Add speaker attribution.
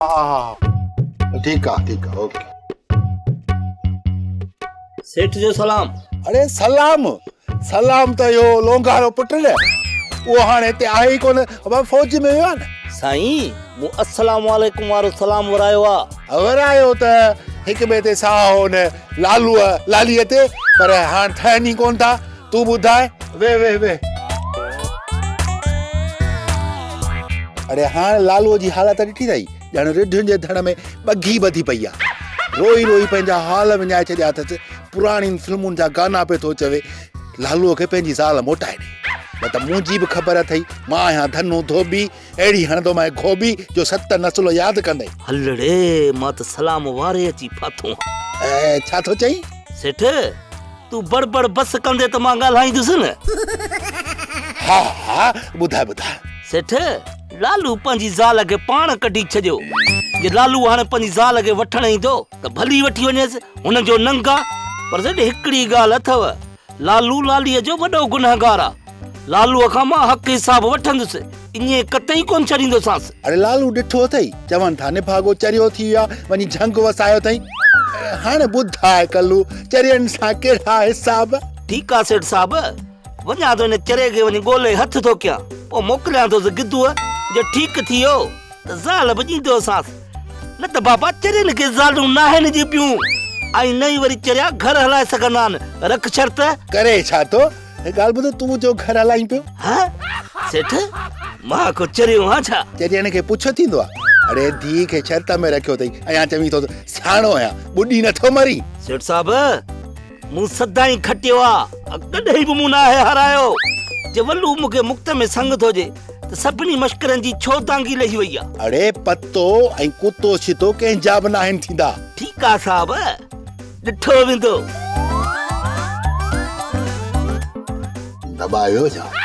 Speaker 1: ها ها ها ٺيڪ آ ٺيڪ آ اوڪي.
Speaker 2: سيٺ جو سلام. اڙي سلام
Speaker 1: سلام ته اهو لونگارو پٽ نه اهو هاڻي هتي آهي ئي ڪونه ابا فوج ۾ ويو آهي نه. سائين مون
Speaker 2: السلام عليڪم وارو سلام ورايو آ. ورايو ته
Speaker 1: هڪ ٻئي تي ساهه هو نه لالوء لاليء تي پر هاڻ ٿهن ئي ڪونه ٿا. تون ٻڌاء ويهه ويهه ويهه. اڙي هاڻ لالوء جي حالت ڏٺي اٿئي ڄڻ رڍين جي ڌڻ ۾ ٻگهي ٻڌي پئي آ. روئي روئي پنهنجا حال وڃائي ڇڏيا اٿس. پراڻين فلمن جا گانا پئي ٿو چوي لالوء کي پنهنجي زال موٽائي ڏي. نه ته منهنجي به خبر اٿئي مان آهيان ڌنو ڌوٻي. اهڙي هڻندو مئي گهوٻي جو ست نسل ياد ڪندئي. هلڙي،
Speaker 2: مان ته سلام واري اچي ڦاٿو هان. اهي ڇا ٿو
Speaker 1: چئين؟ سيٺ،
Speaker 2: تون بڙ بڙ بس ڪندي ته مان ڳالهائيندس نه. ها ها،
Speaker 1: ٻڌاء ٻڌاء. سيٺ،
Speaker 2: لالو پنهنجي زال کي پاڻ ڪڍي ڇڏيو. جي لالو هاڻي پنهنجي زال کي وٺڻ ايندو ته ڀلي وٺي وڃيس، هن جو ننگ آ. پر سيٺ، هڪڙي ڳالهه اٿو. لالو لاليء جو وڏو گنهگار آ. لالوء کان مان حق حساب وٺندس. اڃي قطعي ڪونه ڇڏيندوسانس. اڙي لالو ڏٺو
Speaker 1: اٿئي چون ٿا نڀاڳو چريو ٿي ويو آ وڃي جهنگ وسايو اٿئي. هاڻي ٻڌاء ڪلو چرين سان ڪهڙا حساب. ٺيڪ آ سيٺ
Speaker 2: صاحب. وڃان ٿو ان چريي کي وڃي ڳولي هٿ ٿو ڪيان. پوء موڪليان ٿوس گدوء جو ٺيڪ ٿي ويو. ته زال به ڏيندوسانس، نه ته بابا چرين کي زالون ناهن ڄيبيون ۽ نه ئي وري چريا گهر هلائي سگهندا آهن، رک شرط. ڪري ڇا ٿو؟ هڪ
Speaker 1: ڳالهه ٻڌ، تون جو گهر هلائين پيو. ها؟ سيٺ،
Speaker 2: مان ڪو چريو آهيان ڇا؟ چرين کي پڇ ٿيندو
Speaker 1: آهي. اڙي ڌيء کي شرط ۾ رکيو اٿئي، اڃا چوين ٿو ته سياڻو آهيان، ٻڏي نه ٿو مرين. سيٺ صاحب!
Speaker 2: مون سدائين کٽيو آ، ڪڏهن به مون ناهي هارايو. جي ولو مون کي مڪت ۾ سنگ ٿو ڏي ته سڀني مشڪرن جي ڇو دانگي لهي وئي آ. اڙي پتو
Speaker 1: ۽ ڪتو ڇتو ڪنهن جا به ناهن ٿيندا. ٺيڪ آ صاحب،
Speaker 2: ڏٺو ويندو.
Speaker 1: دٻايو ڇا؟